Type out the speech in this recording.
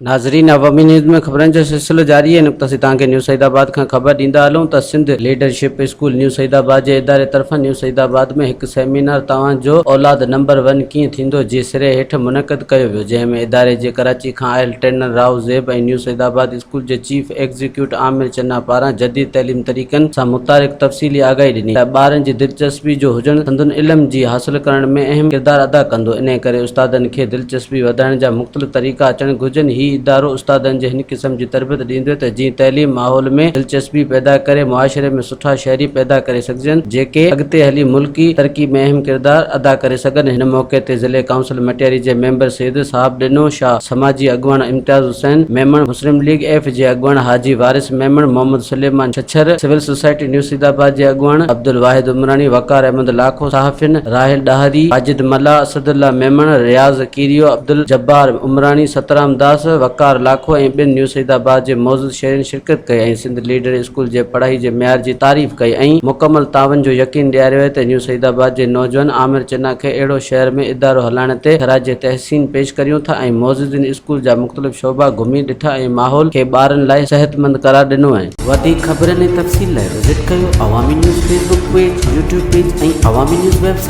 ناظرين عوامي نيوز ۾ خبرن جو سلسلو جاري آهي نقطه سيتان کي نيو سعيد آباد کان خبر ڏيندا هلون ته Sindh leadership school new Saeedabad جي اداري طرفان نيو سعيد آباد ۾ هڪ سيمينار توهان جو اولاد نمبر ون ڪيئن ٿيندو جي سري هيٺ منعقد ڪيو ويو جنهن ۾ اداري جي ڪراچي کان آيل ٽرينر راهو زيب ۽ نيو سعيد آباد اسڪول جي چيف ايگزيڪيوٽ عامر چنا پاران جديد تعليم طريقن سان متعلق تفصيلي آگاهي ڏني ته ٻارن جي دلچسپي جو هجڻ سندن علم جي حاصل ڪرڻ ۾ اهم ڪردار ادا ڪندو انهي ڪري استادن کي دلچسپي وڌائڻ جا مختلف طريقا اچڻ گهرجن هي ادارو استادن جي هن قسم جي تربيت ڏيندوته جيئن تعليم ماحول ۾ دلچسپي پيدا ڪري معاشري ۾ سٺا شهري پيدا ڪري سگهجن جيڪي اڳتي هلي ملڪي ترقي ۾ اهم ڪردار ادا ڪري سگهن هن موقعي تي ضلعي ڪائونسل مٽياري جي ميمبر سيد صاحب ڏنو شاهه سماجي اڳواڻ امتياز حسين ميمڻ مسلم ليگ ايف جي اڳواڻ حاجي Waris Memon Muhammad Suleman Chhachhar civil society new Saeedabad جي اڳواڻ عبدالواحد عمراڻي وقار احمد لاکو صحافين راحيل ڏاهري واجد ملاح اسد الله ميمڻ رياض ڪيريو عبدالجبار عمراڻي سترام داس وقار لاکو ۽ ٻين نيو سيدآباد جي معزز شهرين شرڪت ڪئي ۽ سنڌ ليڊر اسڪول جي پڙهائي جي معيار جي تعريف ڪئي ۽ مڪمل تعاون جو يقين ڏياريو آهي ته نيو سعيد آباد جي نوجوان عامر چنا کي اهڙو شهر ۾ ادارو هلائڻ تي خراج تحسين پيش ڪريون ٿا ۽ معززين اسڪول جا مختلف شعبا گهمي ڏٺا ۽ ماحول کي ٻارن لاء صحتمند قرار ڏنو ۽. وڌيڪ خبرن ۽ تفصيل لاء وزٽ ڪيو Awami news Facebook page, YouTube page ۽ Awami news web site.